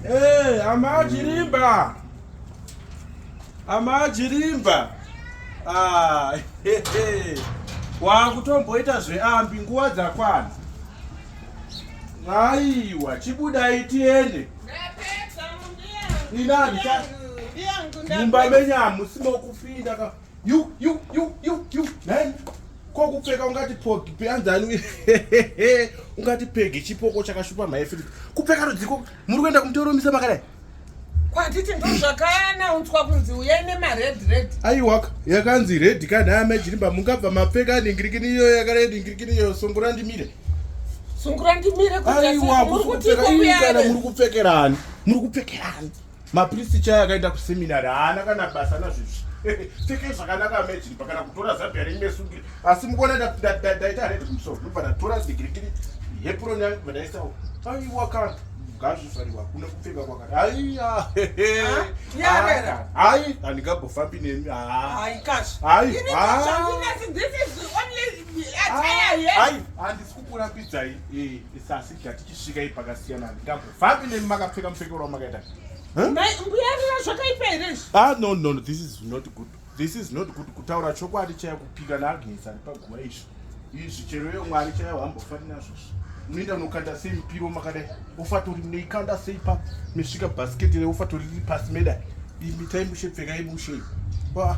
Hey, eh, amachirimba amachirimba ah, wakutomboita zveambi nguva dzakwana aiwa chibudai tiende inani mumba menyu hamusimo kupinda You you you you you. Nine. kokupfeka ungati pogi peanzani ungati pegi chipoko chakashupa mhai filipi kupfeka rudziko muri kuenda kumutoromisa makadai kwatiti ndo zvakanaunzwa kunzi uyai nemared red aiwaka yakanzi red kani aya majirimba mungabva mapfeka aningirikini iyoyo yakared ingirikini iyoyo sungura ndimire sungura ndimire aiwa kusukuaiwa muri kupfekerani muri kupfekerani mapristi chaya akaenda kuseminary haana kana basa nazvizvi pfekei zvakanaka amajini pakana kutora zabia reimwe sungiri asi mukuona ndaita redi kumusoro ndobva ndatora digirigiri hepuroni yangu bva ndaisawo aiwa kana ngazvifariwa kune kupfeka kwakati aiya hai handingambofambi nemi hai handisi kukurambidzai eh, sasi ndatichisvika ipakasiyana handingambo Vapi nemi makapfeka mupfekero wamakaita? Mai mbuyarira zvakaipa here izvi? Ah no no no this is not good. This is not good kutaura chokwadi chaya kupika na Agnes ari paguva izvi. Izvi chero iye Mwari chaya wambofani nazvo izvi. Unoenda unokanda sei mupiro makadai? Ufatori munoikanda sei pa mesvika basket re ufatori riri pasi medai? Imi tai mushe pfekai mushe. Wah.